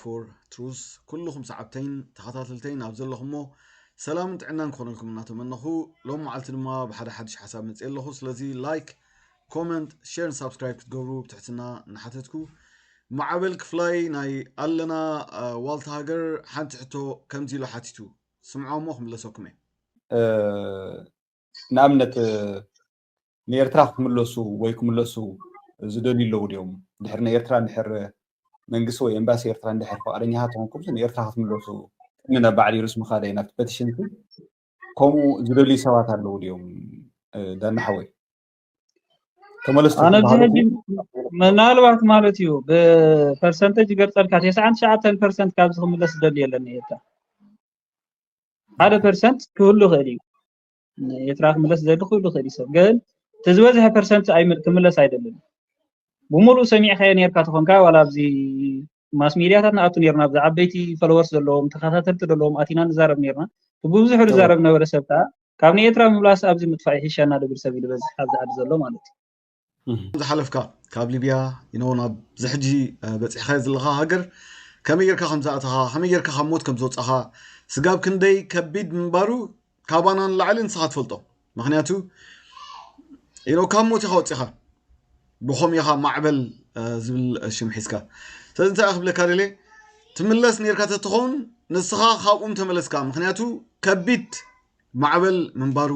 ፎር ትሩስ ኩልኹም ሰዓብተይን ተኸታተልተይን ኣብ ዘለኹሞ ሰላምን ጥዕናን ክኾነልኩም እናተመነኹ ሎም መዓልቲ ድማ ብሓደ ሓድሽ ሓሳብ መፅእ ኣለኹ ስለዚ ላይክ ኮመንት ሸርን ሳብስክራይብ ክትገብሩ ብትሕትና እናሓተትኩ ማዕበል ክፍላይ ናይ ኣለና ዋልታ ሃገር ሓንቲ ሕቶ ከምዚ ኢሉ ሓቲቱ ስምዖ እሞ ክምለሰኩም እየ ንኣብነት ንኤርትራ ክትምለሱ ወይ ክምለሱ ዝደልዩ ኣለዉ ድዮም ድሕር ንኤርትራ ድሕር መንግስቲ ወይ ኤምባሲ ኤርትራ ድሕር ፍቃደኛ ተኾንኩም ንኤርትራ ክትምለሱ ቅድሚ ናብ ባዕል ዩኑስ ምኻደይ ናብቲ ፐቲሽንሲ ከምኡ ዝደልዩ ሰባት ኣለዉ ድዮም ዳና ሓወይ ተመለስቲ ኣነ ኣብዚ ክበሃሉ ሕጂ ምናልባት ማለት እዩ ብፐርሰንተጅ ይገልጸልካ ተስዓን ትሽዓተን ፐርሰንት ካብዚ ክምለስ ዝደሊ የለን ኤታ ሓደ ፐርሰንት ክህሉ ይኽእል እዩ ኤርትራ ክምለስ ዝደሊ ክህሉ ይኽእል እዩ ሰብ ግን እቲ ዝበዝሐ ፐርሰንት ኣይም- ክምለስ ኣይደልን ብምሉእ ሰሚዕካዮ ነርካ ተኾንካ ዋላ ኣብዚ ማስ ሚድያታት ንኣቱ ነርና ኣብዚ ዓበይቲ ፎሎወርስ ዘለዎም ተኸታተልቲ ዘለዎም ኣቲና ንዛረብ ነርና እቲ ብብዙሑ ዝዛረብ ነበረ ሰብ ከዓ ካብ ንኤርትራ ምምላስ ኣብዚ ምጥፋእ ይሕሸና ድብል ሰብ እዩ ዝበዝሕ ኣብዚ ዓዲ ዘሎ ማለት እዩ። ዝሓለፍካ ካብ ሊብያ ኢኖ ናብ ዝሕጂ በጺሕካዮ ዘለኻ ሃገር ከመይ ጌርካ ከም ዝኣተኻ ከመይ ጌርካ ካብ ሞት ከም ዝወጻኻ ስጋብ ክንደይ ከቢድ ምንባሩ ካባና ንላዕሊ ንስኻ ትፈልጦ ምክንያቱ ኢኖ ካብ ሞት ኢኻ ወጺኻ ብኸምኡ ኢኻ ማዕበል ዝብል ሽም ሒዝካ ስለዚ እንታይ ክብለካ ደልየ ትምለስ ነርካ ተትኸውን ንስኻ ካብኡም ተመለስካ ምክንያቱ ከቢድ ማዕበል ምንባሩ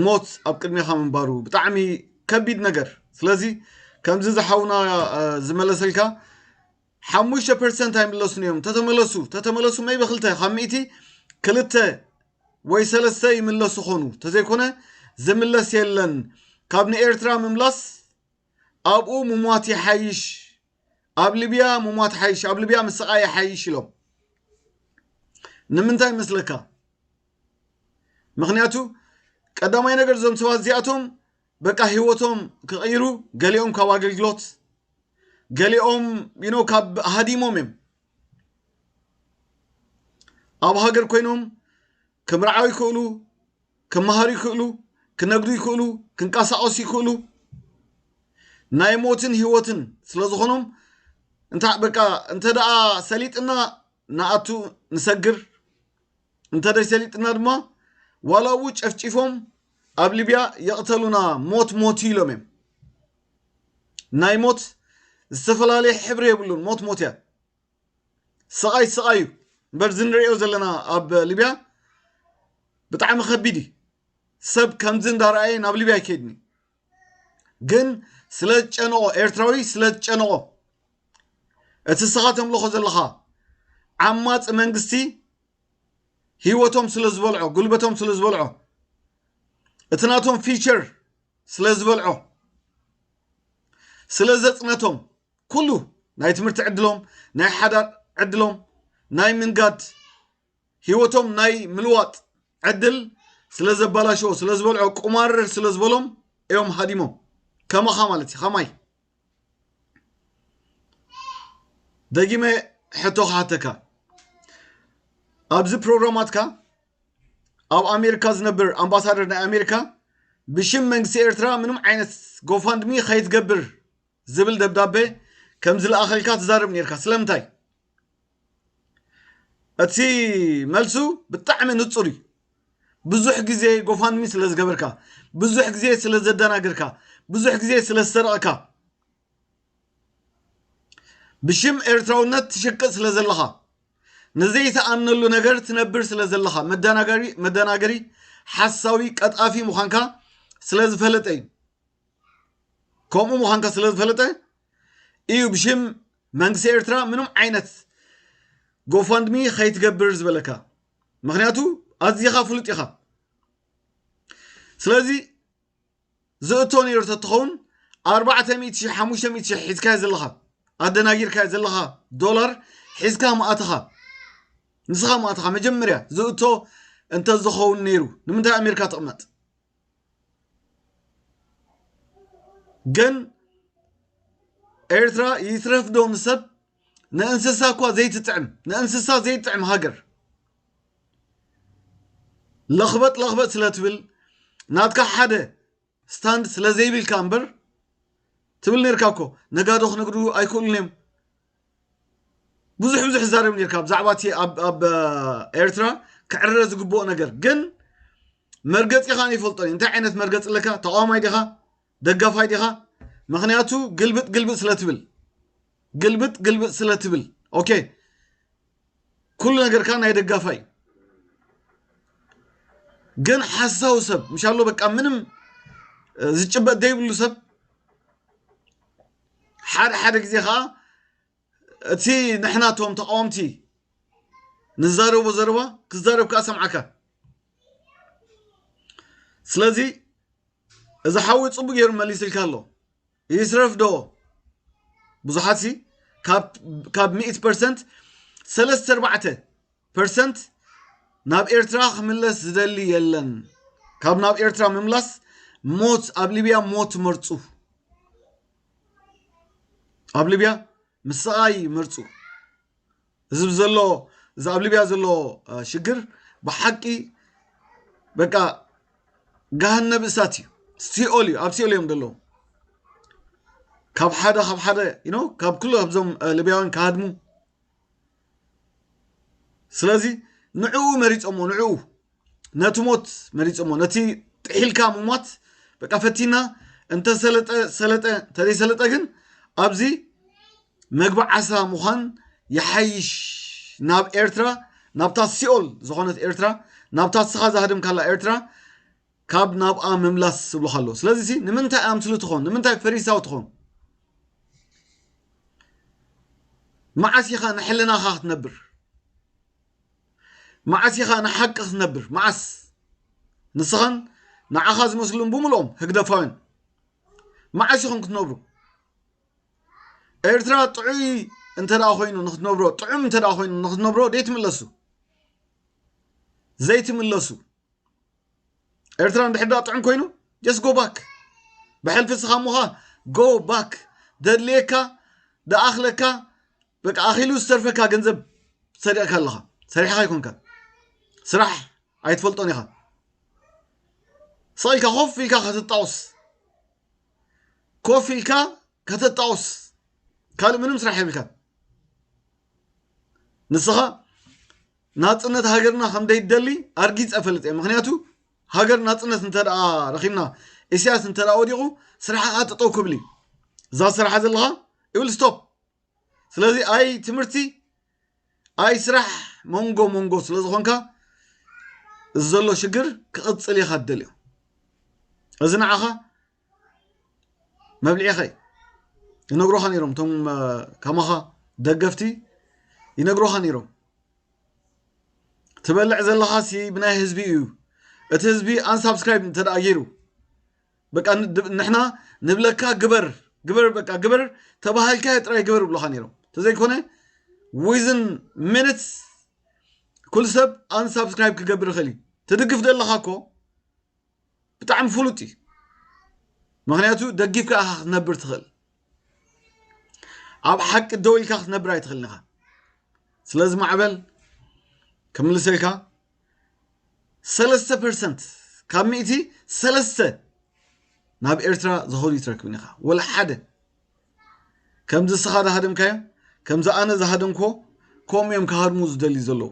ሞት ኣብ ቅድሜኻ ምንባሩ ብጣዕሚ ከቢድ ነገር ስለዚ ከምዚ ዝሓውና ዝመለሰልካ ሓሙሽተ ፐርሰንት ኣይምለሱን እዮም ተተመለሱ ተተመለሱ መይበ ክልተ ካብ ሚእቲ ክልተ ወይ ሰለስተ ይምለሱ ኾኑ ተዘይኮነ ዝምለስ የለን ካብ ንኤርትራ ምምላስ ኣብኡ ምሟት ይሓይሽ ኣብ ሊብያ ምሟት ሓይሽ ኣብ ሊብያ ምስቓ ይሓይሽ ኢሎም ንምንታይ መስለካ ምክንያቱ ቀዳማይ ነገር እዞም ሰባት እዚኣቶም በቃ ሂወቶም ክቕይሩ ገሊኦም ካብ ኣገልግሎት ገሊኦም ዩኖ ካብ ሃዲሞም እዮም ኣብ ሃገር ኮይኖም ክምርዓው ይክእሉ፣ ክመሃሩ ይክእሉ፣ ክነግዱ ይክእሉ፣ ክንቀሳቀሱ ይክእሉ ናይ ሞትን ህይወትን ስለ ዝኾኖም እንታይ በቃ እንተ ደኣ ሰሊጥና ንኣቱ ንሰግር እንተ ሰሊጥና ድማ ዋላ እው ጨፍጪፎም ኣብ ሊብያ የቕተሉና ሞት ሞት ኢሎም እዮም ናይ ሞት ዝተፈላለየ ሕብሪ የብሉን ሞት ሞት እያ ስቓይ ስቓይ እዩ እምበር እዚ ንሪኦ ዘለና ኣብ ሊብያ ብጣዕሚ ከቢድ እዩ ሰብ ከምዚ እንዳረኣየ ናብ ሊብያ ኣይከይድን እዩ ግን ስለ ዝጨነቆ ኤርትራዊ ስለ ዝጨነቆ እቲ ስኻ ተምልኾ ዘለኻ ዓማፂ መንግስቲ ህይወቶም ስለ ዝበልዖ ጉልበቶም ስለ ዝበልዖ እቲ ናቶም ፊቸር ስለ ዝበልዖ ስለ ዘጽነቶም ኩሉ ናይ ትምህርቲ ዕድሎም ናይ ሓዳር ዕድሎም ናይ ምንጋድ ህይወቶም ናይ ምልዋጥ ዕድል ስለ ዘባላሸዎ ስለ ዝበልዖ ቁማርር ስለ ዝበሎም እዮም ሃዲሞም ከማኻ ማለት እዩ ከማይ ደጊመ ሕቶ ክሓተካ ኣብዚ ፕሮግራማትካ ኣብ ኣሜሪካ ዝነብር ኣምባሳደር ናይ ኣሜሪካ ብሽም መንግስቲ ኤርትራ ምንም ዓይነት ጎፋንድሚ ከይትገብር ዝብል ደብዳቤ ከም ዝለኣኸልካ ትዛረብ ነርካ ስለምንታይ እቲ መልሱ ብጣዕሚ ንጹር እዩ ብዙሕ ግዜ ጎፋንሚ ስለ ዝገበርካ ብዙሕ ግዜ ስለ ዘደናግርካ ብዙሕ ግዜ ስለ ዝሰረቕካ ብሽም ኤርትራውነት ትሽቅጥ ስለ ዘለኻ ንዘይተኣምነሉ ነገር ትነብር ስለ ዘለኻ መደናገሪ መደናገሪ ሓሳዊ ቀጣፊ ምዃንካ ስለ ዝፈለጠ እዩ ከምኡ ምዃንካ ስለ ዝፈለጠ እዩ ብሽም መንግስቲ ኤርትራ ምንም ዓይነት ጎፋንድሚ ከይትገብር ዝበለካ ምክንያቱ ኣዚኻ ፍሉጥ ኢኻ ስለዚ ዝእቶ ነይሩ ተትኸውን ኣርባዕተ ሚእቲ ሽሕ ሓሙሽተ ሚእቲ ሽሕ ሒዝካዮ ዘለኻ ኣደናጊርካዮ ዘለኻ ዶላር ሒዝካ ምኣትኻ ንስኻ ምኣትኻ መጀመርያ ዝእቶ እንተዝኸውን ነይሩ ንምንታይ ኣሜሪካ ትቕመጥ ግን ኤርትራ ይትረፍዶ ንሰብ ንእንስሳ እኳ ዘይትጥዕም ንእንስሳ ዘይጥዕም ሃገር ለኽበጥ ለኽበጥ ስለ ትብል ናትካ ሓደ ስታንድ ስለ ዘይብልካ እምበር ትብል ነርካ እኮ ነጋዶ ክነግዱ ኣይክእሉን እዮም ብዙሕ ብዙሕ ዝዛረብ ነርካ ብዛዕባ እቲ ኣብ ኤርትራ ክዕረ ዝግብኦ ነገር ግን መርገፂኻ ይፈልጦ እንታይ ዓይነት መርገፂ ኣለካ ተቃዋማይ ዲኻ ደጋፋይ ዲኻ ምክንያቱ ግልብጥ ግልብጥ ስለትብል ግልብጥ ግልብጥ ስለትብል ኦኬ ኩሉ ነገርካ ናይ ደጋፋይ ግን ሓሳዊ ሰብ ምሻሎ በቃ ምንም ዝጭበጥ ዘይብሉ ሰብ ሓደ ሓደ ግዜ ከዓ እቲ ንሕና እቶም ተቃወምቲ ንዛረቦ ዘረባ ክዛረብ ከዓ ሰምዓካ ስለዚ እዚ ሓዊ ፅቡቅ ገይሩ መሊስልካ ኣሎ ይስረፍ ዶ ብዙሓት ሲ ካብ ሚእት ፐርሰንት ሰለስተ ኣርባዕተ ፐርሰንት ናብ ኤርትራ ክምለስ ዝደሊ የለን ካብ ናብ ኤርትራ ምምላስ ሞት ኣብ ሊብያ ሞት መርፁ ኣብ ሊብያ ምስቓይ መርፁ እዚ ዘሎ እዚ ኣብ ሊብያ ዘሎ ሽግር ብሓቂ በቃ ገሃነብ እሳት እዩ ሲኦል እዩ ኣብ ሲኦል እዮም ዘለዉ ካብ ሓደ ካብ ሓደ ካብ ኩሉ ካብዞም ሊብያውያን ክሃድሙ ስለዚ ንዕኡ መሪጾሞ ንዕኡ ነቲ ሞት መሪጾሞ ነቲ ጥሒልካ ምሟት በቃ ፈቲና እንተ ሰለጠ ሰለጠ እንተዘይ ሰለጠ ግን ኣብዚ መግቢ ዓሳ ምዃን ይሓይሽ ናብ ኤርትራ ናብታ ሲኦል ዝኾነት ኤርትራ ናብታ ስኻ ዝሃደምካላ ኤርትራ ካብ ናብኣ ምምላስ ዝብልካ ኣሎ ስለዚ ሲ ንምንታይ ኣምስሉ ትኾን ንምንታይ ፈሪሳዊ ትኾን መዓስ ኢኻ ንሕልናኻ ክትነብር መዓስ ኢኻ ንሓቂ ክትነብር መዓስ ንስኻን ንዓኻ ዝመስሉን ብምልኦም ህግደፋውያን መዓስ ኢኹም ክትነብሩ ኤርትራ ጥዑይ እንተ ኮይኑ ንክትነብሮ ጥዑም እንተ ኮይኑ ንክትነብሮ ደይትምለሱ ዘይትምለሱ ኤርትራ እንድሕር ዳ ጥዑም ኮይኑ ጀስ ጎ ባክ ብሕልፊ እስኻ እሞኻ ጎ ባክ ደድልየካ ደኣኽለካ በቃ ኣኺሉ ዝተርፈካ ገንዘብ ሰሪቕካ ኣለኻ ሰሪሕኻ ይኮንካ ስራሕ ኣይትፈልጦን ኢኻ ስቕ ኢልካ ኮፍ ኢልካ ከተጣውስ ኮፍ ኢልካ ከተጣውስ ካልእ ምንም ስራሕ የብልካ ንስኻ ናጽነት ሃገርና ከም ደይደሊ ኣርጊጸ እፈልጥ እየ ምክንያቱ ሃገር ናጽነት እንተ ረኺብና ኢሳያስ እንተ ወዲቑ ስራሕኻ ጠጠው ክብል እዩ እዛ ስራሓ ዘለኻ ይብል ስቶፕ ስለዚ ኣይ ትምህርቲ ኣይ ስራሕ መንጎ መንጎ ስለ ዝኾንካ እዚ ዘሎ ሽግር ክቕፅል ኢኻ ትደልዮ እዚ ንዓኻ መብልዒኸይ ይነግሮኻ ነይሮም እቶም ከማኻ ደገፍቲ ይነግሮኻ ነይሮም ትበልዕ ዘለኻ ሲ ብናይ ህዝቢ እዩ እቲ ህዝቢ ኣንሳብስክራይብ እንተደኣ ገይሩ በቃ ንሕና ንብለካ ግበር ግበር በቃ ግበር ተባሃልካ ጥራይ ግበር ብሎኻ ነይሮም ተዘይኮነ ዊዝን ሚኒትስ ኩል ሰብ ኣንሳብስክራይብ ክገብር ይኽእል እዩ ትድግፍ ዘለኻ እኮ ብጣዕሚ ፍሉጥ እዩ ምክንያቱ ደጊፍካ ኢኻ ክትነብር ትኽእል ኣብ ሓቂ ደው ኢልካ ክትነብር ኣይትኽእልን ኢኻ ስለዚ ማዕበል ክምልሰልካ ሰለስተ ፐርሰንት ካብ ሚእቲ ሰለስተ ናብ ኤርትራ ዝኸዱ ይትረክብን ኢኻ ወላ ሓደ ከምዚ እስኻ ዝሃደምካዮ ከምዚ ኣነ ዝሃደምክዎ ከምኡ እዮም ክሃድሙ ዝደልዩ ዘለዉ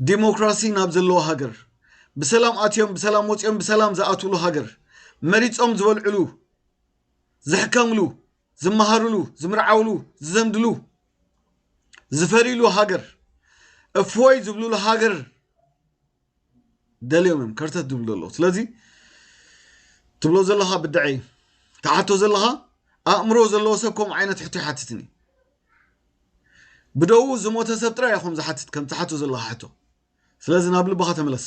ዲሞክራሲ ናብ ዘለዎ ሃገር ብሰላም ኣትዮም ብሰላም ወፂኦም ብሰላም ዝኣትውሉ ሃገር መሪፆም ዝበልዕሉ ዝሕከምሉ ዝመሃርሉ ዝምርዓውሉ ዝዘምድሉ ዝፈርይሉ ሃገር እፎይ ዝብልሉ ሃገር ደልዮም እዮም ከርተት ድብሉ ዘለዉ ስለዚ ትብሎ ዘለኻ ብድዐ እዩ ትሓቶ ዘለኻ ኣእምሮ ዘለዎ ሰብ ከምኡ ዓይነት ሕቶ ይሓትትን እዩ ብደው ዝሞተ ሰብ ጥራይ እዮም ዝሓትት ከም ትሓቶ ዘለኻ ሕቶ ስለዚ ናብ ልብኻ ተመለስ